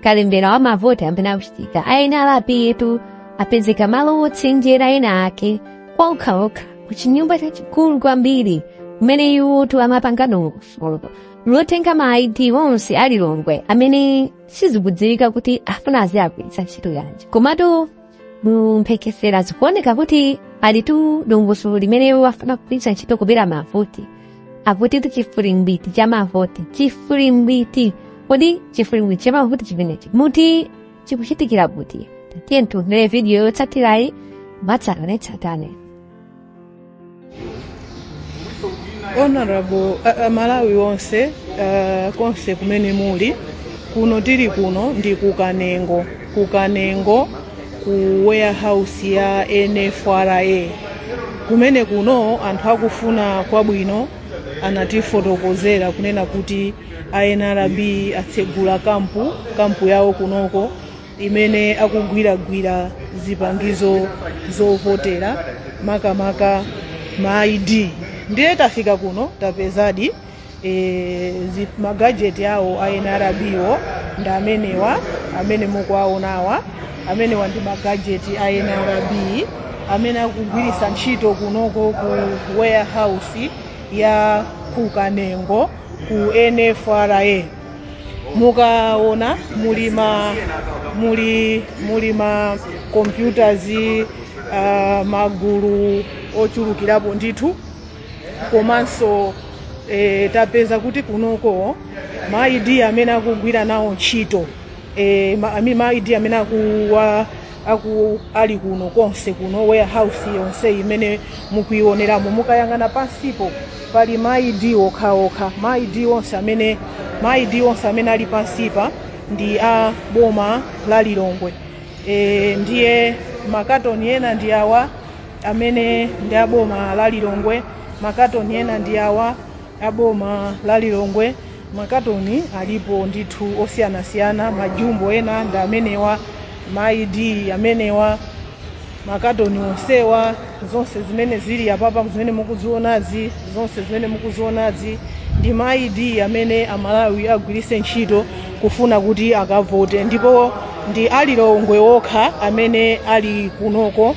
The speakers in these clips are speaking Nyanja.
kalembera wa mavoti amene akuchitika ayi ndithu apayetu apezeka malo wotsenjera ena ake kwa okhaokha ku chinyumba chachikulu kwambiri kumene iwotu amapanga dongosolo lotenga ma id onse alilongwe amene sizikudziwika kuti afuna aziagwiritsa ntchito yanji komatu mu mphekesera zikuoneka kuti alitu ndi dongosolo limene afuna kugwiritsa ntchito kubera mavoti akutitu chifulimbiti cha mavoti chifulimbiti kodi chifulimbiti cha mavoti chimenechi muti chikuchitikira kuti tiyeni tiwonere vidiyo yotsatirayi mwatsatanetsatane honorable uh, uh, amalawi nonse uh, konse kumene muli kuno tili kuno ndi kukanengo kukanengo ku warehouse ya nfra kumene kuno anthu akufuna kwabwino anatifotokozera kunena kuti a nrb atsegula kampu kampu yawo kunoko imene akugwiragwira zipangizo zovotera makamaka ma id ndiye tafika kuno tapezadi e, zi- magajeti awo a nrb wo ndi amenewa amene mukuwaonawa amenewa ndi magajeti a nrb amene akugwiritsa ntchito kunoko ku warehouse ya kukanengo ku nfra mukaona muli muli ma computers uh, magulu ochulukirapo ndithu komanso e, tapeza kuti kunoko ma ID amene akugwira nawo ntchito e, ma, ami- ma ID amene akuwa aku ali kuno konse kuno warehouse yonse imene mukuioneramo mukayang'ana pansipo pali maid okhaokha maid onse amene maid onse amene ali pansipa ndi a boma la lilongwe e, ndiye makatoni ena ndi awa amene ndi a boma la lilongwe makatoni ena ndi awa a boma la Lilongwe. Makatoni alipo ndithu osiyanasiyana, majumbo ena ndi amenewa, ma ID amenewa, makatoni onsewa, zonse zimene zili apapa zimene mukuzionazi, zonse zimene mukuzionazi ndi ma ID amene Amalawi agwiritse ntchito kufuna kuti akavote, ndipo ndi a Lilongwe okha amene ali kunoko.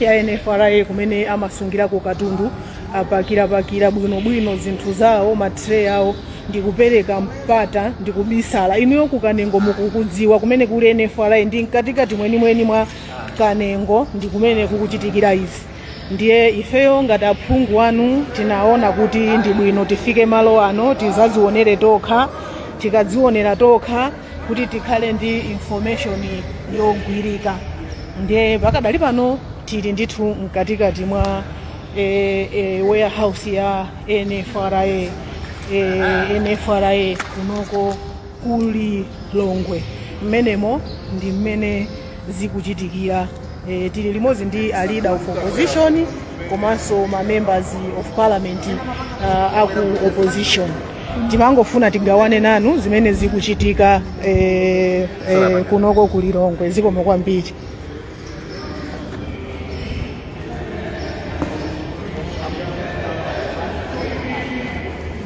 ya NFRA kumene amasungirako katundu apakirapakira bwinobwino zinthu zawo matire awo ndikupereka mpata ndikubisala inuyo ku kanengo mukukudziwa kumene kuli NFRA ndi mkatikati mwenimweni mwa kanengo ndi kumene kukuchitikira izi ndiye ifeyo ngati aphungu anu tinaona kuti ndi bwino tifike malo ano tidzadzionere tokha tikadzionera tokha kuti tikhale ndi information yogwirika ndiye pakadali pano tili ndithu mkatikati mwa e, e, warehouse ya nfra e, nfra kunoko ku Lilongwe mmenemo ndi mmene zikuchitikira. Tili limodzi ndi a leader of opposition komanso ma members of parliament uh, aku opposition timangofuna tigawane nanu zimene zikuchitika eh, eh, kunoko ku Lilongwe zikomo kwambiri